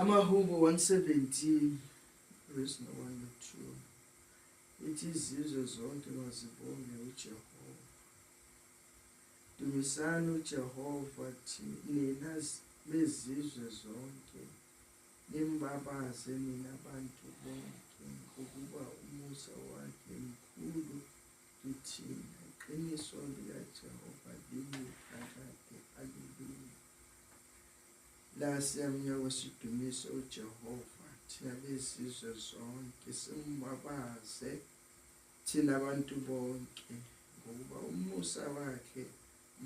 amahubo 117 verse no 1 no 2 ithi izizwe zonke mazibonge ujehova dumisani ujehova nina bezizwe zonke nimbabaze nina bantu bonke ngokuba umusa wakhe mkhulu Kithina, iqiniso likaJehova limi phakade. Aleluya! La siyamnya kwesidumise uJehova, thina bezizwe zonke, simbabaze thina abantu bonke, ngokuba umusa wakhe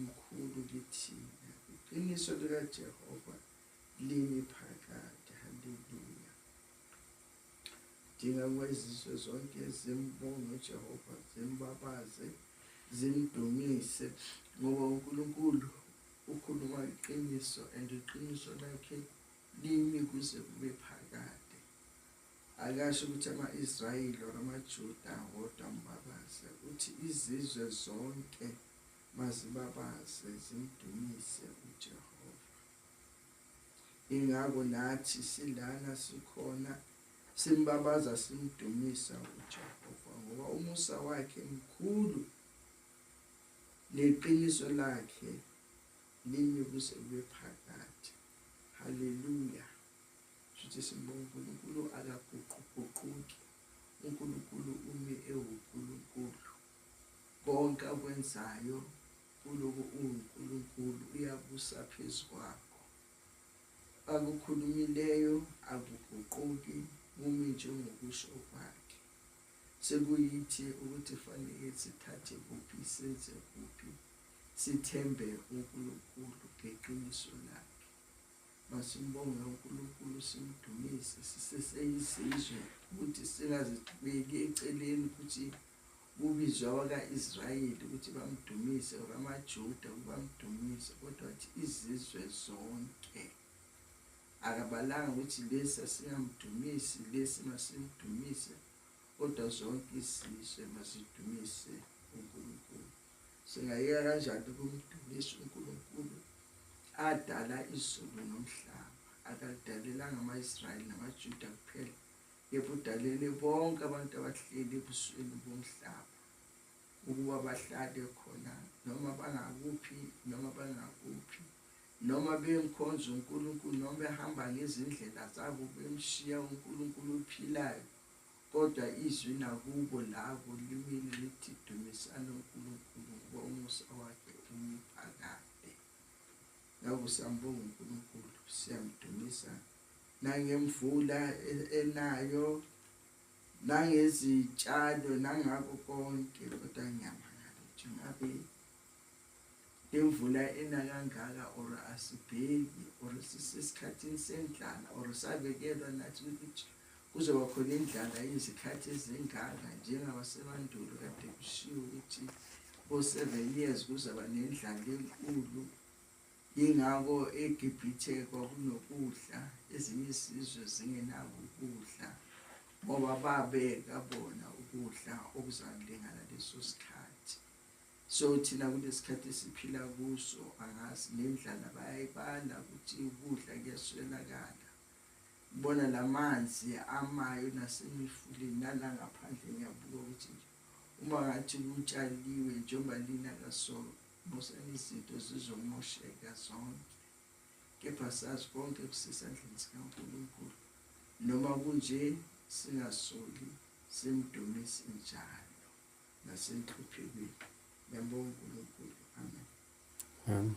mkhulu kithina. Iqiniso likaJehova limi phakade. Haleluya! dinga ukuba izizwe zonke zimbonge ujehova zimbabaze zimdumise ngoba unkulunkulu ukhuluma iqiniso and iqiniso lakhe limi kuze kube phakade akasho ukuthi ama-israyeli or amajuda wodwa mbabaze uthi izizwe zonke mazibabaze zimdumise ujehova ingako nathi silana sikhona simbabaza simdumisa uJehova ngoba umusa wakhe mkhulu neqiniso lakhe limi kuze kube phakade haleluya shuthi simbonga uNkulunkulu akaguquguquki uNkulunkulu umi ewuNkulunkulu konke akwenzayo Uloku unguNkulunkulu uyabusa phezu kwakho. Akukhulumileyo akuguquki kumi njengokusho kwakhe. Sekuyithi ukuthi fanele sithathe kuphi senze kuphi sithembe uNkulunkulu ngeqiniso lakhe. Masimbonge uNkulunkulu simdumise siseseyizizwe ukuthi singazibeki eceleni ukuthi kubizwe abaka-israyeli ukuthi bamdumise or amajuda ukuba amdumise kodwa wathi izizwe zonke akabalanga ukuthi lesi asingamdumisi lesi masimdumise kodwa zonke izizwe mazidumise unkulunkulu singayeka kanjani ukumdumisa unkulunkulu adala izulu nomhlaba akalidalelanga ama-israyeli namajuda kuphela Yebo, udalele bonke abantu abahleli ebusweni bomhlaba ukuba bahlale khona noma bangakuphi noma bangakuphi noma bemkhonza uNkulunkulu noma behamba ngezindlela zabo bemshiya uNkulunkulu ophilayo kodwa izwi nakubo labo limile lithi dumisana uNkulunkulu ngoba umusa wakhe umiphakade ngakusambonga uNkulunkulu siyamdumisa nangemvula e-, enayo nangezitshalo nangako konke kodwa ngiyamangala ukuthi ngabe imvula ena kangaka or asibheki or sisesikhathini sendlala or sabekelwa nathi ukuthi kuzoba khona indlala izikhathi ezingaka njengabasemandulo kade kushiwo ukuthi bo-seven years kuzaba nendlala enkulu Yingakho eGibhithe kwakunokudla, ezinye izizwe zingenako ukudla, ngoba babeka bona ukudla okuzakulingana leso sikhathi. So thina kulesikhathi esiphila kuso angazi nendlala bayayibala ukuthi ukudla kuyaswelakala. Bona lamanzi amayo nasemifuleni nalangaphandle ngiyabuka ukuthi uma ngathi kutshaliwe njengoba lina kaso Musani izinto zizomosheka zonke kepha sazi konke kusisandleni sikaNkulunkulu noma kunje singasoli simdumisi njalo nasenhluphekweni yabonga uNkulunkulu amen amen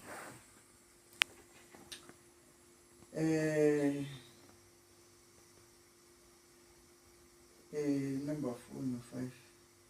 eh eh number 4 no 5